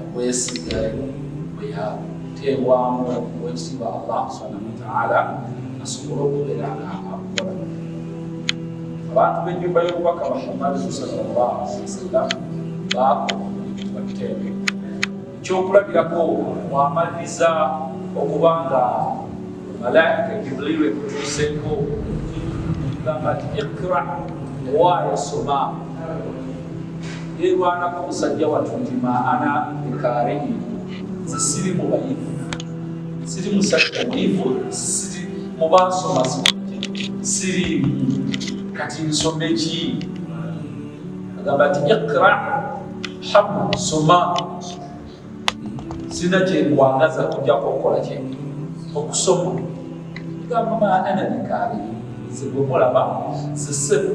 okwesiga bwe yateebwamu okuweesibwa allah subhanahu wataala asobole okubeera nga akola abantu b'ennyumba y'obubaka muhammad sallallahu alaihi wasallam baakola bateebe ekyokulabirako mwamaliriza okuba nga malaika jibrilu ekutuuseeko gamba nti ikra owaayosoma yerwanako musajja watu nti maana ekareyi zisiri mubayivu siri musajja muyivu siri mubansoma sirimu kati nsoma eki agamba nti ikra hamu soma sina kyenkwangaza kujako okukola kyendi okusoma gamba maana bikaabi zegwemulaba zisebo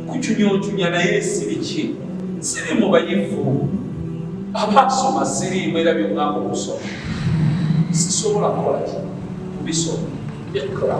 kucunyoncunya naye siriki siri mu bayivu abaasoma siriimu era byongamba okusoma sisobola kukola ki kubisoma ekra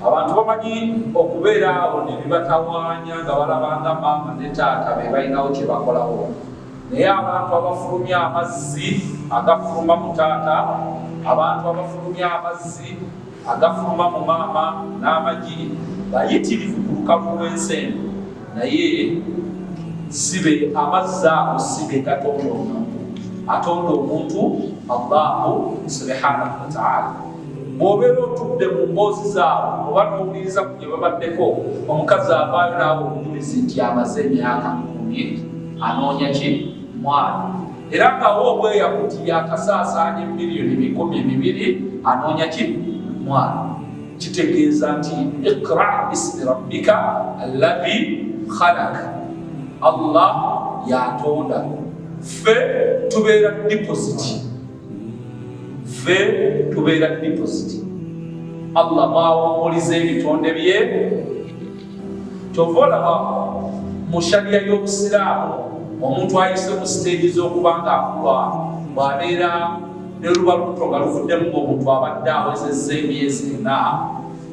abantu bamanyi okubeera awo ne bibatawaanya nga balaba nga maama ne taata be balinawo kye bakolawo naye abantu abafulumya amazzi agafuluma mu taata abantu abafulumya amazzi agafuluma mu maama n'amagi bayitirivu ku lukalu lw'ensi eno naye sibe amazzi ago sibe gatonda omuntu atonda omuntu allahu subhanahu wataala bw'obeera otudde mu mboozi zaabwe oba n'owuliriza ku gye babaddeko omukazi avaayo naawe omujulizi nti amaze emyaka mumye anoonya ki mwana era ngawo obweya kuti yakasaasaanya emiliyoni bikumi bibiri anoonya ki mwana kitegeeza nti ikra bismi rabbika allahi khalak allah yatonda ffe tubeera depositi ffe tubeera deposit allah mwawumuliza ebitonde bye kyova olaba mu shariya y'obusiraamu omuntu ayise mu siteegi z'okuba nga akulwa bwabeera ne luba lukuto nga luvuddemu ngaomuntu abadde awezezza emyezi ena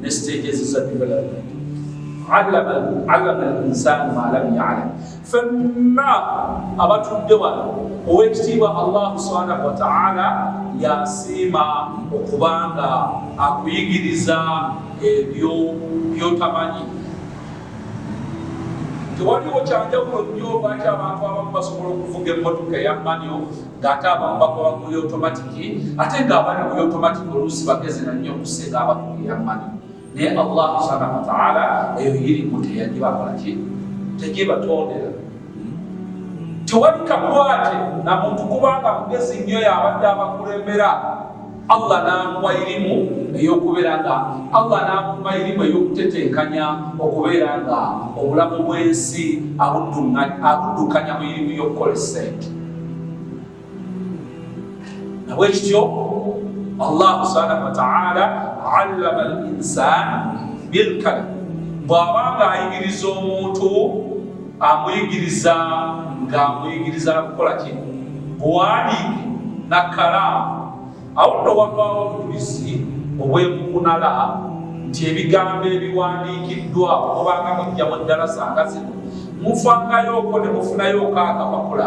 ne siteegi eziza development alama linsanu malam yalam fenna abatudde wano owekitiibwa allahu subhanahu wataala yasiima okubanga akuyigiriza ebyo byotamanyi tewaliwo kyanjawulo nnyo lwaki abantu abamu basobola okuvuga emmotoka eya manyo ng'ate abamu bakola ku yotomatiki ate ng'abali ku yotomatiki oluusi bagezi na nnyo okusinga abakugira mani naye allah subhanahu wataala eyo yirimu teyagibakolaki tegibatondera tewali kakwate na muntu kubanga mugezi nnyo yabadde abakulembera Allah n'amuwa irimu ey'okubeera nga Allah n'amuwa irimu ey'okutetenkanya okubeera nga obulamu bw'ensi abuddukanya mu irimu y'okukola essente nabwe kityo Allah subhanahu wa ta'ala allama al insan bilkalam bw'aba ng'ayigiriza omuntu amuyigiriza ng'amuyigiriza nakukola ki buwandiike na kalaamu awo nno wavaawo obujulizi obwemukunala nti ebigambo ebiwandiikiddwa okubanga mujja mu ddalasa nga zino mufangayooko ne mufunayooko akapapula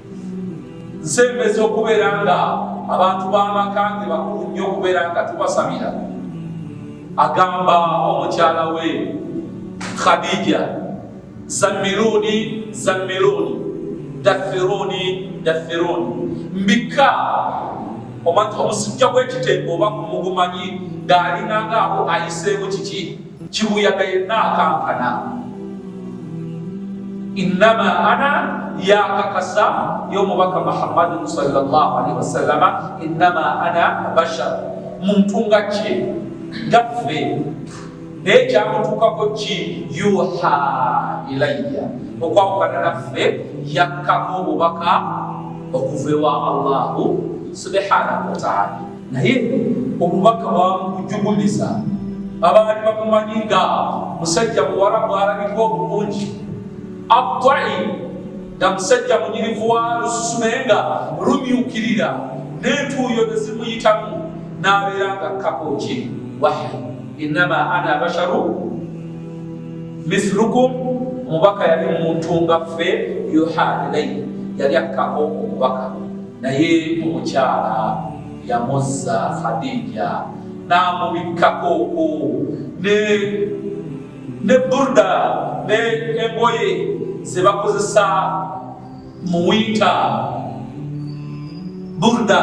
nsembeza okubeera nga abantu b'amaka ge bakulu nnyo okubeera nga tubasabira agamba omukyala we khadija zammiruuni zammiruuni daffiruuni daffiruuni mbikka omusujja gw'ekiteeko oba kumugumanyi ng'alinangaako ayiseemu kiki kibuyaga yenna akankana innama ana yakakasa yomubaka muhammadin salllahalihi wasallama innama ana bashar muntu nga kye gaffe naye kyamutuukako ki yuha ilaya okwawukana naffe yakkamu obubaka okuva ewa allahu subhanahu wataala naye omubaka wamukujugumiza abaali bamumanyi nga musajja muwala bwalabika obulungi abtai nga musajja munyirivu wa lususu naye nga lumyukirira n'entuuyo nezimuyitamu n'abeera nga kakoki wahi innama ana basharu mithlukum omubaka yali muntu nga ffe yuha ilaihi yali akkako omubaka naye omukyala yamuzza khadija n'amubikkako oku ne ne burda ne engoye ze bakozesa mu winta burda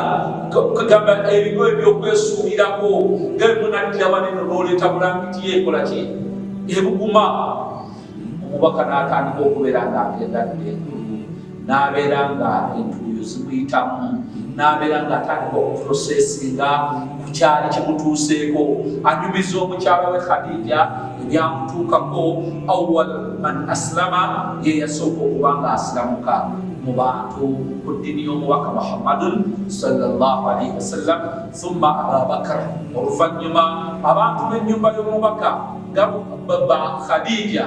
kugamba ebigo ebyokwesuulirako nga emunaddira waneno n'oleeta bulangiti yeekola ki ebuguma omubaka n'atandika okubeera ng'agengadde n'abeera nga entuuyo zimuyitamu n'abeera ng'atandika okuprosesinga ku kyali kimutuuseeko anyumiza omukyala we khadija ebyamutuukako awal man asilama ye yasooka okuba nga asilamuka mu bantu ku ddini y'omubaka muhammadun salllah alaihi wasallam thumma ababakar oluvannyuma abantu b'ennyumba y'omubaka nga ba khadija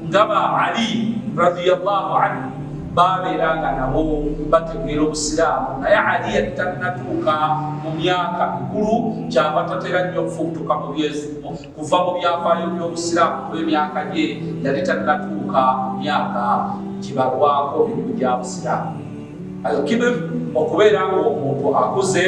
nga ba ali radiallahu anhu babeera nga nabo bategeera obusiraamu naye ali yali tannatuuka mu myaka mikulu kyava tatera nnyo okufuutuka mu byezi kuva mu byafaayo by'obusiraamu kuba emyaka gye yali tannatuuka myaka gibalwako mirimu gya busiraamu alkibir okubeera nga omuntu akuze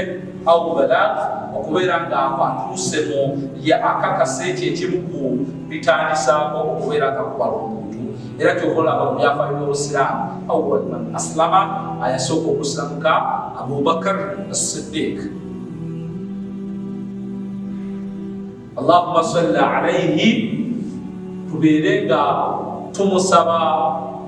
au balak okubeera nga atuuse mu ye akakasa ekyo ekimu ku bitandisaako okubeera nga kubala omuntu era kyokolaba mu byafaayo by'obusiraamu awal man aslama ayasooka okusilamuka abubakar asiddiiki allahuma salli alaihi tubeere nga tumusaba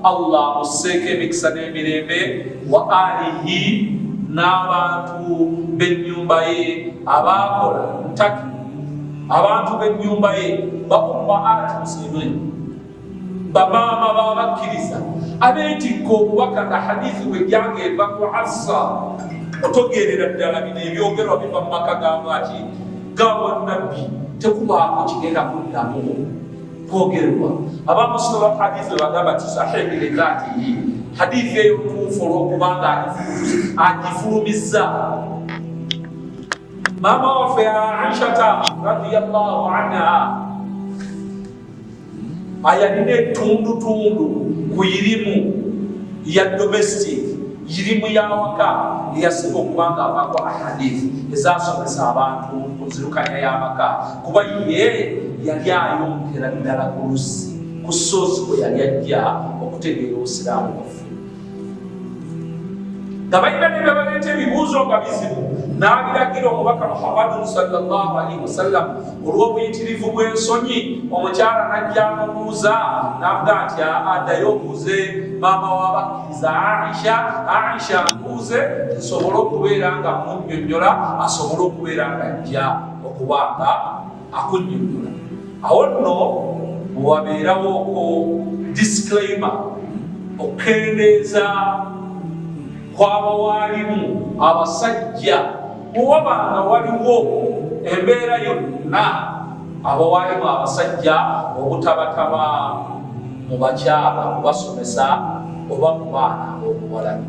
allah musseeko emikisa n'emirembe wa alihi n'abantu b'ennyumba ye abaakola ntaki abantu b'ennyumba ye bakumba ati muslimin bamaama b'abakkiriza abeetikka obubaka nga hadithi bwe jjanga eva ku hassa otogerera ddala bino ebyogerwa biva mu maka gangaki gawa nabbi tekubaako kigenda kuddamu kwogerwa abamusoma hadithi webagamba ti sahihi lidhatihi hadithi eyo ntuufu olwokubanga agifulumizza maama waffe aishata radiallahu anha ayalina etundutundu ku irimu ya domestic irimu yawaka eyasinga okubanga avako ahadith ezasomesa abantu ku nzirukanya y'amaka kuba ye yali ayongera ddala ku lusi ku soozi kwe yali ajja okutegeera obusiraamu bwaffe nga balina ne bye baleeta ebibuuzo nga bizibu n'abiragira omubaka muhammadu salllahu alaihi wasallam olw'obuyitirivu bw'ensonyi omukyala najja amubuuza navuga nti adayo obuuze maama wabakkiriza aisha aisha amubuuze nsobole okubeera nga munyonyola asobole okubeera nga ajja okubaanga akunyonyola awo nno bwewabeerawo ku disclaimer okukendeeza kwaba waalimu abasajja bwewaba nga waliwo embeera yonna abawaalimu abasajja obutabataba mu bakyala kubasomesa oba mu baana obuwalabi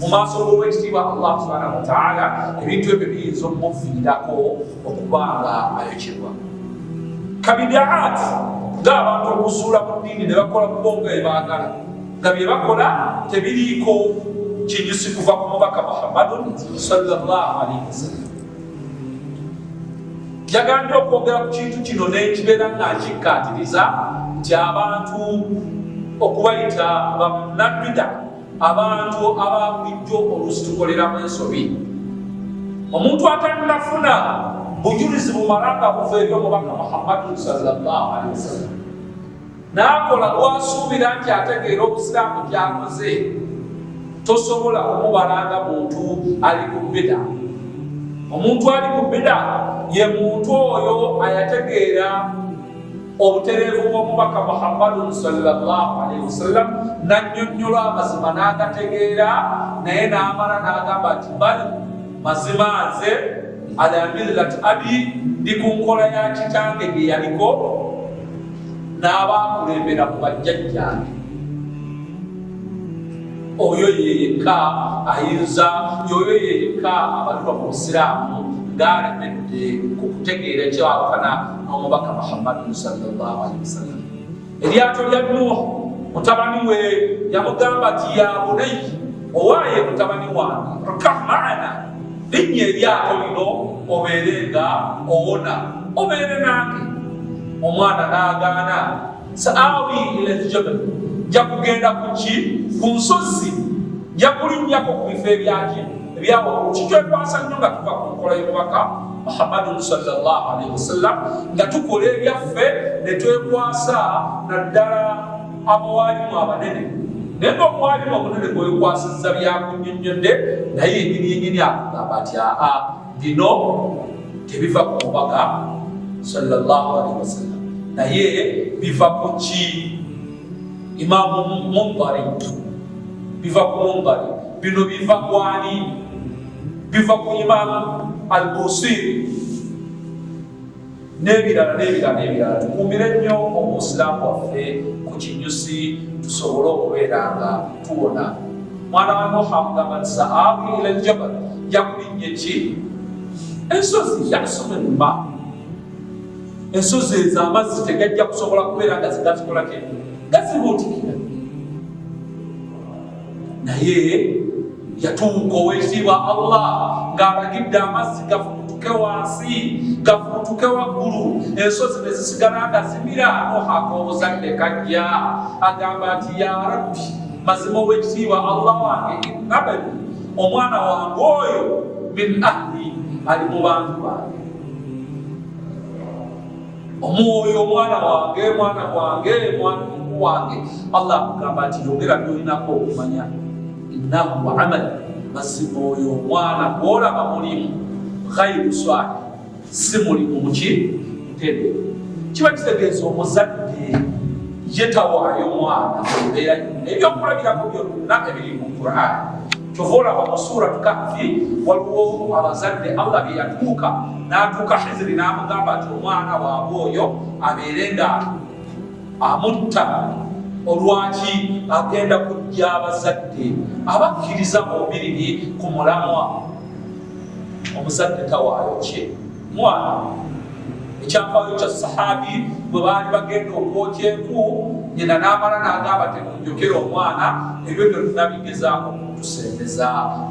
mu maaso g'owekitiibwa allah subhanahu wataala ebintu ebyo biyinza okumuviirako okuba nga ayokyebwa kabidaati ngaabantu okusuula mu ddiini ne bakola kubo nga ebaagala nga bye bakola tebiriiko kinyusi kuva ku mubaka muhammadun salllahu alaihi wasallam yagambye okwogera ku kintu kino nekibeera nga nkikkaatiriza nti abantu okubayita bannabida abantu ababulijjo oluusi tukoleramu ensobi omuntu atanafuna bujulizi bumala nga buva eri omubaka muhammadu salllahu alehi wasallam naakola gwasuubira nti ategeera obusiraamu kyakoze tosobola kumubalanga muntu ali ku bida omuntu ali ku bida ye muntu oyo ayategeera obutereevu bw'omubaka muhammadun salllahu alaihi wasallam nannyonnyola amazima n'agategeera naye n'amala n'agamba nti bali mazima nze ala millati abi ndi ku nkola ya kitange gye yaliko n'abaakulembera ku bajjajjange oyo yeyekka ayinza yoyo yeyekka abatuba mu busiraamu ng'alemedde ku kutegeera kyawukana omubaka muhammadin salllah alihi wasallam eryato lya nuwa mutabani we yamugamba ti ya bunayi owaye mutabani wange rkah maana linnya eryato lino obeere nga owona obeere nange omwana nagaana saawi ila ljabal nja kugenda kuki ku nsozi nja kulinnyako ku bifo ebyaki ebyawakulu kitwekwasa nnyo nga tuva ku nkola y'omubaka muhammadun salllah alaihi wasallam nga tukola ebyaffe ne twekwasa naddala abawalimu abanene naye nga omwalimu omunene gwewekwasizza byakunyonnyodde naye enyinyenyini akugamba ati aa bino tebiva ku mubaka salllah alaihi wasallam naye biva ku ki Imaamu Mumbari biva ku Mumbari, bino biva kwani? Biva ku Imaamu Albusiri n'ebirala n'ebirala n'ebirala. Tukuumire nnyo obusiraamu bwaffe ku kinyusi tusobole okubeera nga tuwona. Mwana wa Nuuha amugamba nti sa'aawi ila aljabal, yakulinnye ki ensozi yasoma ennuma ensozi ezo amazzi tegajja kusobola kubeera nga zigatukolako eno gazibuutikira naye yatuuka owekitiibwa allah ng'alagidde amazzi gafuutuke wansi gafuutuke waggulu ensozi ne zisigala nga zimira nohaaka obuzadde kajja agamba nti ya rabbi mazima owekitiibwa allah wange innabani omwana wange oyo min ahli ali mu bantu bange omwoyo omwana wange mwana wange mwanku wange allah akugamba nti yogera byolinako okumanya innahu amali mazima oyo omwana gwolaba mulimu ghairu swali si mulimu muki ntebe kiba kitegeeza omuzadde yetawaayo omwana ebeera ebyokulabirako byonna ebiri mu qurani kyova olaba mu suratu kahfi waliwo abazadde allah bye yatuuka n'atuuka hiziri n'amugamba nti omwana waabwe oyo abeere nga amutta olwaki agenda kujja abazadde abakkiriza bombiriri ku mulamwa omuzadde tawaayo kye mwana ekyafaayo kya sahabi bwe baali bagenda okwokya enku nyina n'amala n'agamba temunjokera omwana ebyo byonna bigezaako okutusembeza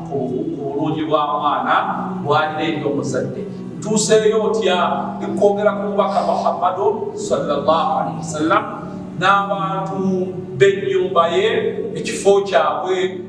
ku bulungi bwa mwana bwalina eri omuzadde ntuuseeyo otya ekwogera ku mubaka muhammadu salllah alihi wasallam n'abantu b'ennyumba ye ekifo kyabwe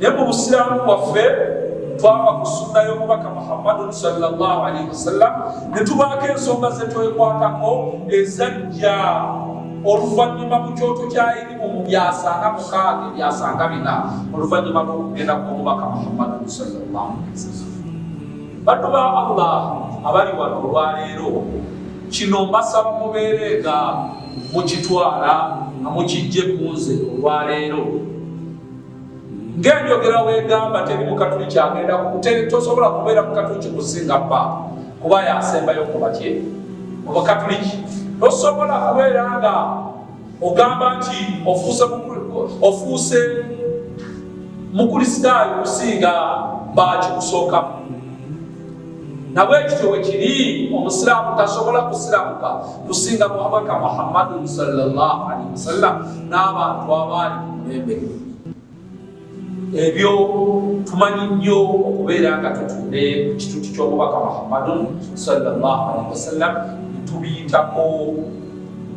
naye mu busiraamu bwaffe twava ku sunna y'omubaka muhammadun salllah alaihi wasallam ne tubaako ensonga zetwekwatako ezajja oluvannyuma mu kyoto kya irimu mu byasanga mukaaga ebyasanga bina oluvannyuma lw'okugenda kw'omubaka muhammadun salllah alaihi wasallam bantu ba allah abali wano olwaleero kino mbasaba mubeere nga mukitwala nga mukijje kunze olwaleero ngenjogera wegamba teri mukatuli kyagenda tosobola kubeera mukatuli kikusinga pa kuba yasembayo kubatye obukatuliki tosobola kubeera nga ogamba nti ofuuse mukulisitaayo kusinga bakikusookamu nabwe kityo bwe kiri omusiraamu tasobola kusiramuka kusinga muhamaka muhammadin salllahalihi wasallam n'abantu abaali ku mulembe ebyo tumanyi nnyo okubeera nga tutunde ku kituti ky'omubaka muhammadin salllahalihi wasallam netubiyitako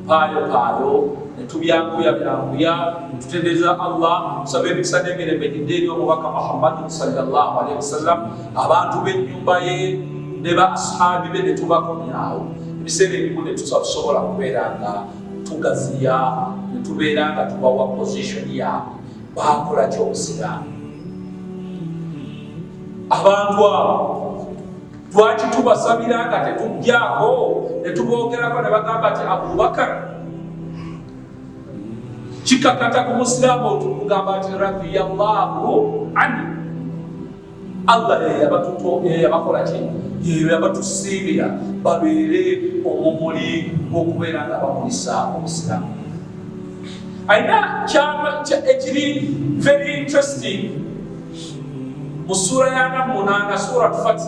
paayopaayo netubyanguya byanguya netutendereza allah nsaba emikisa n'emirembe gidde eri omubaka muhammadin salllahalihi wasallam abantu b'ennyumba ye ne ba asihaabi be ne tubakomyawo ebiseera ebimu ne tusa tusobola kubeera nga tugaziya ne tubeera nga tubawa pozishoni yaabwe bakola ky'obusiraamu abantu abo lwaki tubasabira nga tetujjako ne tuboogerako ne bagamba nti abubakar kikakata ku musiraamu otumugamba nti radiyallahu anhu allah yeyabakola ki yeyo yabatusiibira babeere omumuli gwokubeera nga bakulisa obusiramu alina kyama ekiri very interesting mu suula yanamunanga surat fati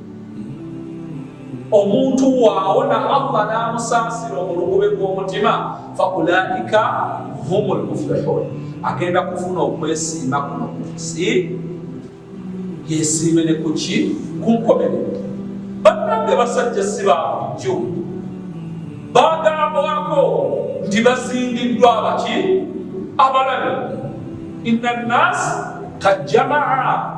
omuntu waawo na allah n'amusaasira omulugube gw'omutima faulaika humu lmuflihun agenda kufuna okwesiima kuno ku nsi yesiime ne kuki ku nkomerero bannange basajja si ba bulijjo bagambwako nti bazindiddwa abaki abalabi inna nnaasi kajjamaa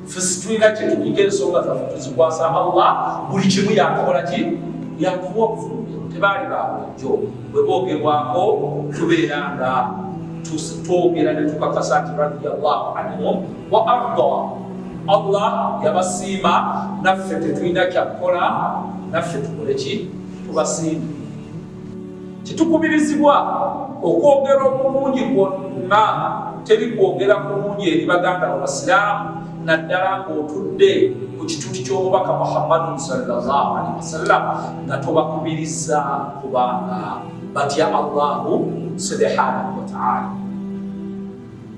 ffe situlina kyetukuga ensonga zaffe tuzikwasa allah buli kimu yakukola ki yakuwa obufumbi tebaali babulijjo bwe boogerwako tubeera nga twogera ne tukakasa nti radiallahu anhum wa arda allah yabasiima naffe tetulina kyakukola naffe tukole ki tubasiima Titukubirizibwa okwogera obulungi kwonna teri kwogera kulungi eri baganda babasiraamu naddala ng'otudde ku kituti ky'omubaka muhammadu sallallahu alaihi wasallam nga tobakubiriza kubanga batya allahu subhanahu wataala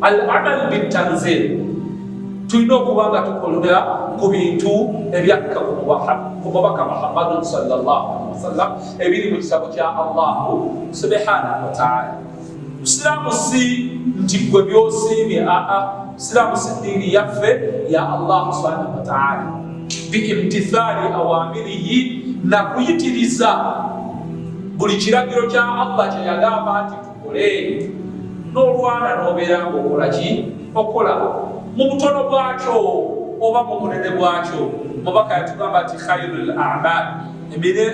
al amal bitanzil tulina okuba nga tukolera ku bintu ebyakka ku mubaka muhammadun sawasalam ebiri mu kitabo kya allahu subhanahu wataala busiraamu si nti gwe byosiimye aa busiraamu si diini yaffe ya allahu subhanahu wataala biimtithali awamirihi nakuyitiriza buli kiragiro kya allah kyeyagamba nti kole n'olwana n'obeera ng'okola ki okola mu butono bwakyo oba mu bunene bwakyo mubaka yatugamba nti khairu l amal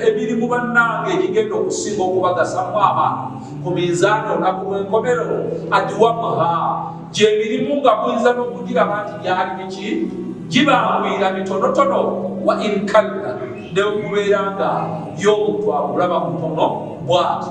emirimu bannange egigenda okusinga okubagasamu abantu ku minzaani olunaku lw'enkomero adiwamuha gyemirimu nga muyinza n'okugiraba nti gyali biki gibangwira mitonotono wa inkalla neokubeera nga y'omuntu akulaba mutono bwati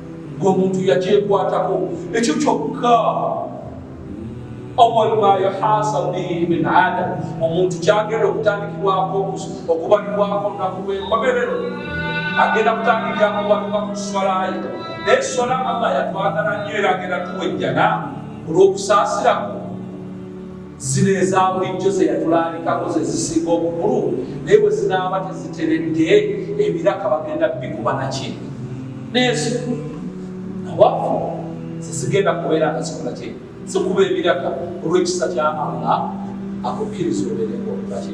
ng'omuntu yakyekwatako ekyo kyokka awal ma yuhasab bihi min adam omuntu kyagenda okutandikibwako okubalibwako olunaku lw'enkomerero agenda kutandika okubalibwa ku swalaye naye swala allah yatwagala nnyo era agenda tuwejjana olw'okusaasirako zino eza bulijjo ze yatulaalikako ze zisinga obukulu naye bwe zinaaba teziteredde ebiraka bagenda bikuba naki neezo nawafu zezigenda kubeera nga zikola kye zikuba ebiraka olw'ekisa kya allah akukkiriza obeereko laki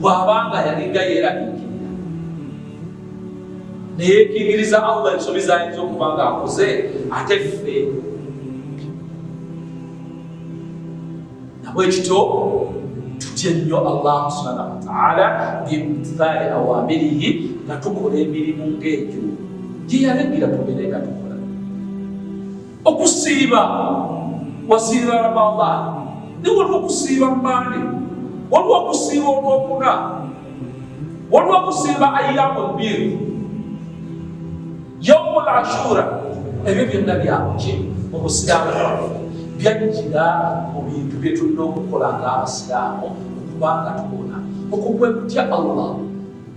bw'abanga yalinga yeeraliikirira ne yeekingiriza Allah ensobi z'ayinza okuba ng'akoze ate ffe nabwe kityo tutye nnyo Allah subhanahu wa ta'ala bimtithali awamirihi nga tukola emirimu ng'egyo gye yalagira tubeere nga tukola okusiiba wasiiba ramadan ni waliwo okusiiba mande waliwo okusiiba olwokuna waliwo okusiiba ayamu bbiri yaumu lashura ebyo byonna byakuki mu busiraamu bwaffe byajjira mu bintu bye tulina okukola ng'abasiraamu okubanga tubona okukwekutya allah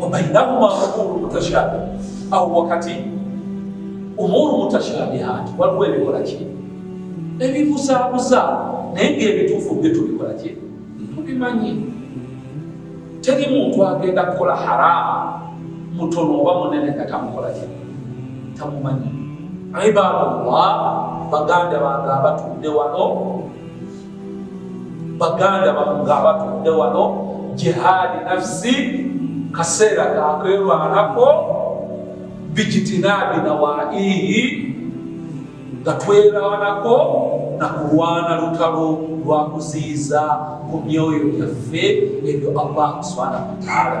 wabainahuma umuru mutashabi awo wakati umuru mutashabihaati waliwo ebikola ki ebibuzabuza naye ngaebituufu bye tubikola ki tubimanyi teri muntu agenda kukola haramu mutono oba munene nga tamukola ki tamumanyi ibadallah baganda bange abatudde wano baganda bano nga abatudde wano jihaadi nafsi kaseera kakerwanako bijitinaabi nawaihi nga twerawanako na kulwana lutalo lwa kuziyiza ku myoyo gyaffe ebyo allah subhanahu wataala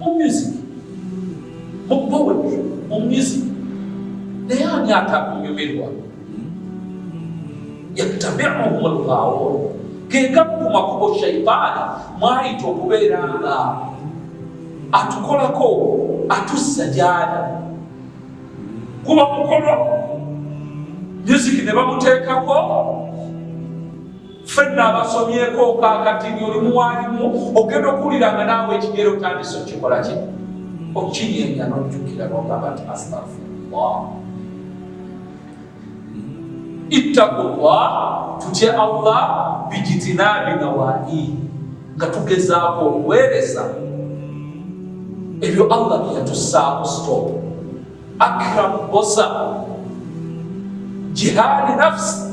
mu music mu poetry mu music naye ani atakunyumirwa yattabiuhum lghawun gegamu ku makubo shaitaani mwayita okubeera nga atukolako atussa gyali kuba mukolo music ne bamuteekako ffenna abasomyeko kakati nti oli muwalimu ogenda okuwulira nga naawe ekigero otandise okikola ki okinyenya nojjukira nogamba nti astafirullah ittaku llah tutye allah bijitinabi nawaii nga tugezaako okuweereza ebyo allah byeyatusaako stop akramu bosa jihaadi nafsi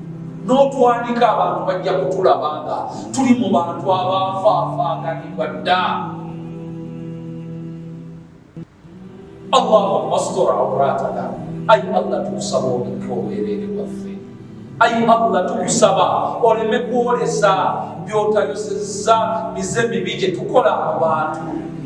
n'otwandika abantu bajja kutulaba nga tuli mu bantu abafaafaaganibwa dda allahuma mastora auratana ayi allah tukusaba obikka obwereere bwaffe ayi allah tukusaba oleme kwolesa byotayosezza mize mibi gye tukola mu bantu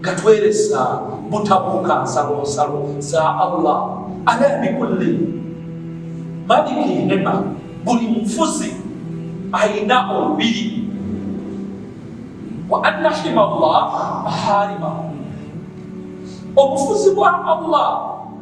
nga tweresa butabuuka nsalonsalo za allah ala bikulli maliki hema buli mufuzi alina olubiri wa anna hima llah maharimahu obufuzi bwa allah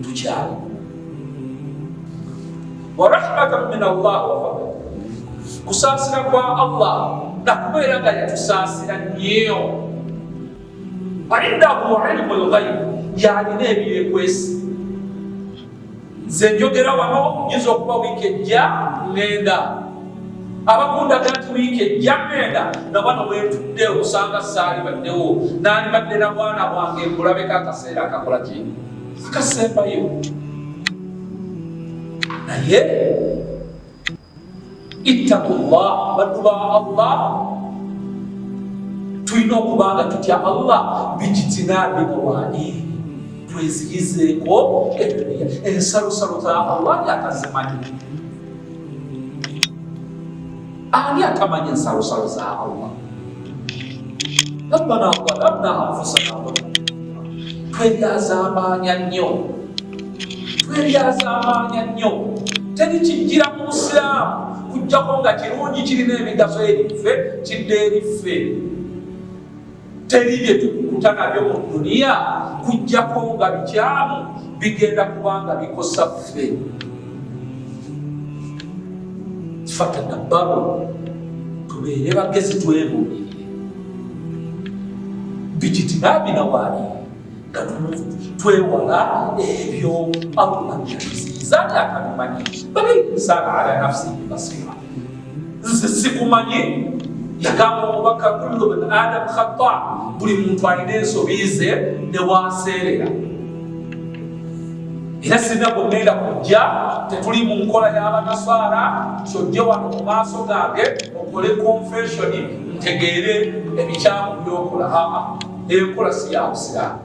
ntukyawa warahmatan min allah wafadl kusaasira kwa allah nakubeera nga yatusaasira nyeyo waindahu ilmu lghaibu yalina ebyekwesi nze njogera wano nyinza okuba wiiki ejja ngenda abakundaga nti wiiki ejja ngenda nga bano bwentudde okusanga saali baddewo nandibadde na bwana bwange nkulabeko akaseera akakola kyenyini akasembayo naye ittakullah baddu ba allah tulina okuba nga tutya allah bijitinabi owaani tweziyizeeko ebyoya ensalosalo za allah yakazimanyi ani atamanyi ensalosalo za allah rabbana walamna anfusana twebyazamaanya nnyo twebyazamaanya nnyo teri kijjira mu busiraamu kujjako nga kirungi kirina emigaso eriffe kidde eriffe teri bye tukukuta nabyo mu duniya kujjako nga bikyamu bigenda kubanga bikosa ffe fatadabbaru tubeere bagezi twebuulirire bikitinabina waali nga twewala ebyo allah byatuziiza nga akabimanyi bali insana ala nafsihi basira nze sikumanye yagamba omubaka kullu bin adamu khata buli muntu alina ensobi ze newaseerera era sirina gwegenda kujja tetuli mu nkola y'abanasaara kyojje wano mu maaso gange okole konfesioni ntegeere ebikyamu byokola aa enkola si ya busiraamu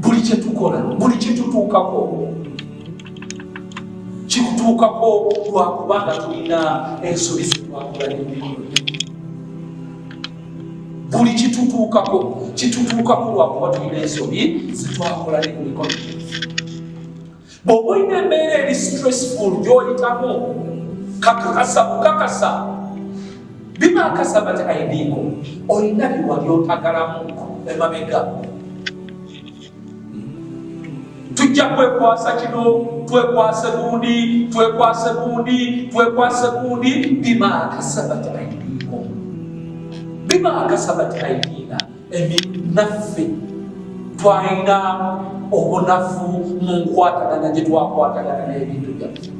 buli kye tukola buli kye tutuukako kikutuukako lwakuba nga tulina ensobi zetwakola n'emirimu buli kitutuukako kitutuukako lwakuba tulina ensobi zetwakola n'emirimu bw'oba olina embeera eri stressful gy'oyitamu kakakasa bukakasa bimakasa bati aidiiko olina biwa byotagalamu emabega tujja kwekwasa kino twekwase gundi twekwase gundi twekwase gundi bimakasa bati aidiiko bimakasa bati aidiina naffe twalina obunafu mu nkwatagana gye twakwatagana n'ebintu byaffe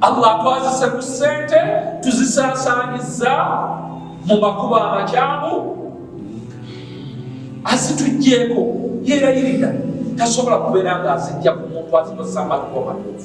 allah twazise ku ssente tuzisaasaanyiza mu makubo amakyamu azituggyeko yeerayirira tasobola kubeera ng'azijja ku muntu azikozesa amakubo matuufu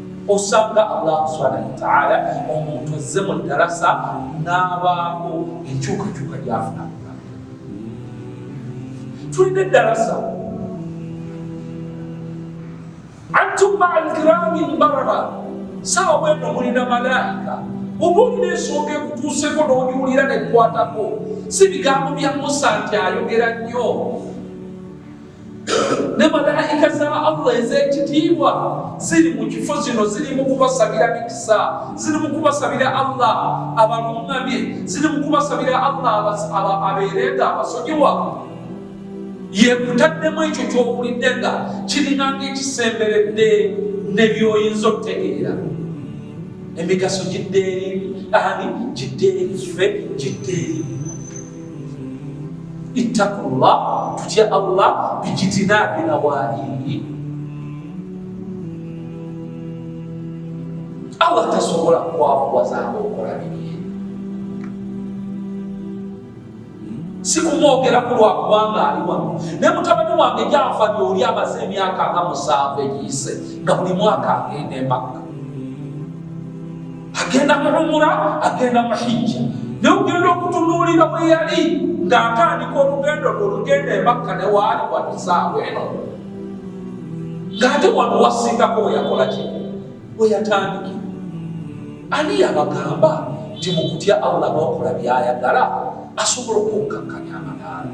osanga allah subhanahu wataala omuntu azze mu ddarasa n'abaako enkyukakyuka gyafuna tulina eddarasa antum maa alkirami lbarara saawa bweno mulina malaika oba olina ensonga ekutuuseko n'ogiwulira nekwatako si bigambo bya musa nti ayogera nnyo ne malaika za allah ez'ekitiibwa ziri mu kifo zino ziri mu kubasabira mikisa ziri mu kubasabira allah abaluŋŋamye ziri mu kubasabira allah abeereeta abasonyiwa yekutaddemu ekyo kyowulidde nga kiringanga ekisemberedde ne byoyinza okutegeera emigaso gidde eri ani gidde eri ffe gidde eri ittakullah tutya allah bijitinabi nawaihi allah tasobola kwakuwazaanga okola bibye sikumwogeraku lwakubanga ali wano naye mutabani wange gyafa lyoli amaze emyaka nga musanvu egiyise nga buli mwaka agenda emakka agenda muhumura agenda muhijja naye ogenda okutunuulira bwe yali ng'atandika olugendo lwe olugenda emakka ne waali watusaawa eno ng'ate wano wasingako we yakola ki we yatandikira ani yabagamba nti mu kutya allah n'okola byayagala asobola okunkakkanya amadaala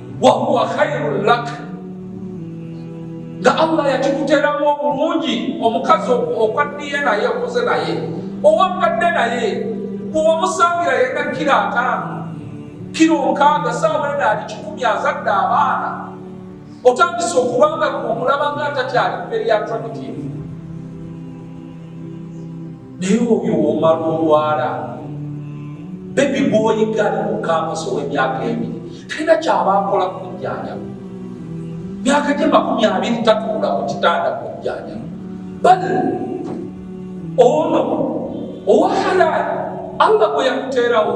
wa huwa khairun lak, nga Allah yakikuteramu obulungi omukazi okwaddiye naye okoze naye owambadde naye bwewamusangira yena kiro ataano kiro nkaaga saawa ena ali kikumi azadde abaana otandise okubanga omulaba nga atakyali mberi ya traditive naye obyo womala olwala bebi gwoyiga ali mu kampasi ow'emyaka ebiri talina kyaba akola kujjanja myaka gye makumi abiri tatuula ku kitanda kujjanja bali ono owa halaali allah gwe yakuteerawo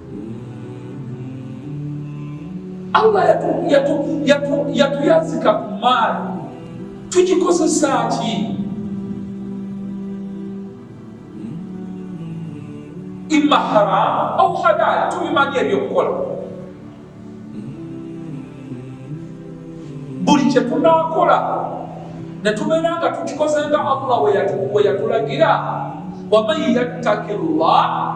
Allah yatuyazika ku maali tugikozesa ki? imma haramu au halali, tubimanyi ebyokukola. Buli kye tunaakola ne tubeera nga tukikoze nga Allah we yatulagira, waman yattaki llah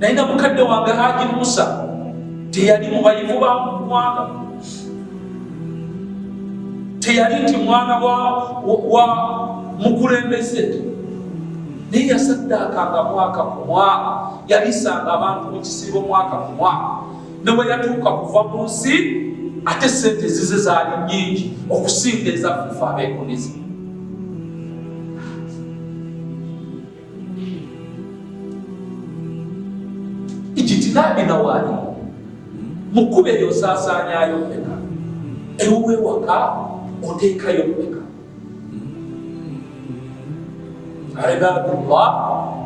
naye na mukadde wange haji musa teyali mubayivu ba mwana teyali nti mwana wa mukulembeze naye yasaddaakanga mwaka ku mwaka yalisanga abantu mu kisiibo mwaka ku mwaka ne bwe yatuuka kuva mu nsi ate sente zize zaali nyingi okusinga ezaffe abeekuniza ekitinabi nawaali mukube eyo osaasaanyayo mumeka ewuwe waka oteekayo mumeka ibadullah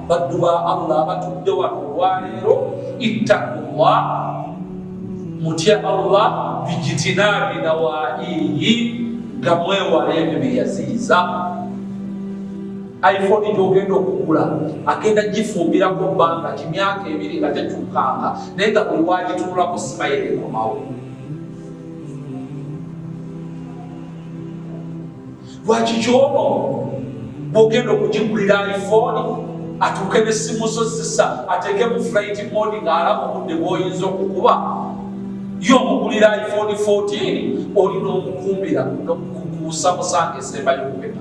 baddu ba allah abatudde wano olwaleero ittakullah mutya allah bijitinabi nawaiyi nga mwewala ebyo byeyaziyiza iphone gyogenda okugula agenda gifumbirako bbanga ki myaka ebiri nga tekyukanga naye nga buli wagitunulako simayere ekomawo lwaki kyono bwogenda okugigulira iphone atuuke nesimu zo zisa ateeke mu flight mode ng'alaba obudde bwoyinza okukuba ye omugulira iphone 14 oli n'omukumbira nokukuusa musanga esembayo okupeta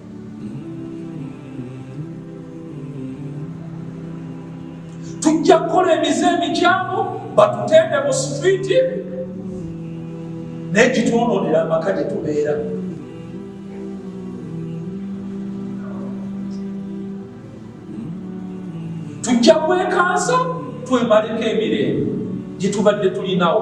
tujja kukola emize emikyamu batutende mu sitriiti naye gitwononera amaka gye tubeera tujja kwekansa twemaleko emirembe gyetubadde tulinawo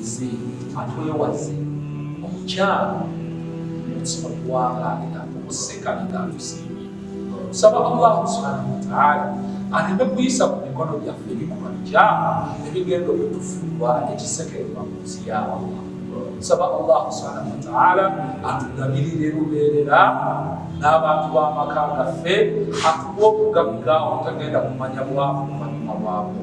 Nze atwewaze omukyala omutima gwalaalira okuseka nga tusiimye nsaba allah subhanahu wataala aleme kuyisa ku mikono gyaffe ebikolwa bikyama ebigenda okutufuulwa ekisekererwa mu nsi ya allah nsaba allah subhanahu wataala atugabirire lubeerera n'abantu b'amaka gaffe atuwa obugagga obutagenda kumanya bwavu mu manyuma bwabwe